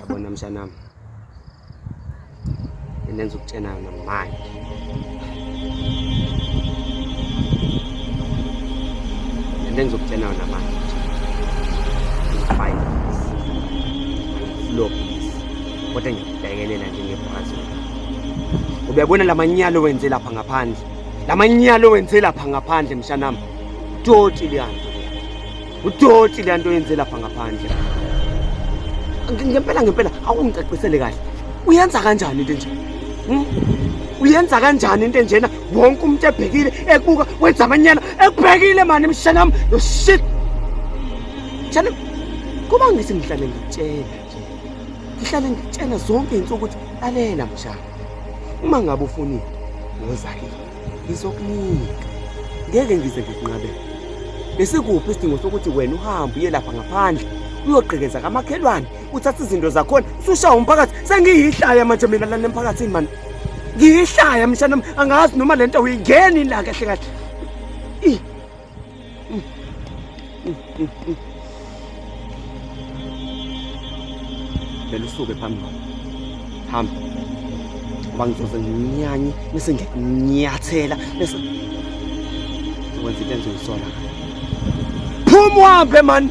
Abona mshanami. Nenza ukutshena yona manje. Nenza ukutshena yona manje. Fine. Lo. Kodwa ngiyabhekelela nje ngebhazi. Uyabona lamanyalo wenze lapha ngaphandle. Lamanyalo wenze lapha ngaphandle mshanami. Utoti liyanto. Utoti liyanto yenze lapha ngaphandle. Ngempela ngempela awungicacisele kahle. Uyenza kanjani into enje? Hmm? Uyenza kanjani into enjena? Wonke umuntu ebhekile ekubuka wenza amanyana ekubhekile mani mshanami. Yo shit. Mshanami kuba ngise ngihlale ngitshela ngihlale ngitshena zonke izinto ukuthi lalela mshana uma ngabe ufunile woza kimi ngizokunika ngeke ngize ngikunqabele besikuphi isidingo sokuthi wena uhambe uye lapha ngaphandle uyogqekeza kamakhelwane uthathe izinto zakhona usushaya umphakathi sengiyihlaya manje mina lana emphakathini mani ngiyihlaya mshana angazi noma le nto uyingeni la kahle kahle vele usuke phambi kwami hamba ngoba ngizoze nginyanye bese ngiyakunyathela bese wenza into engizoyisola phuma uhambe mani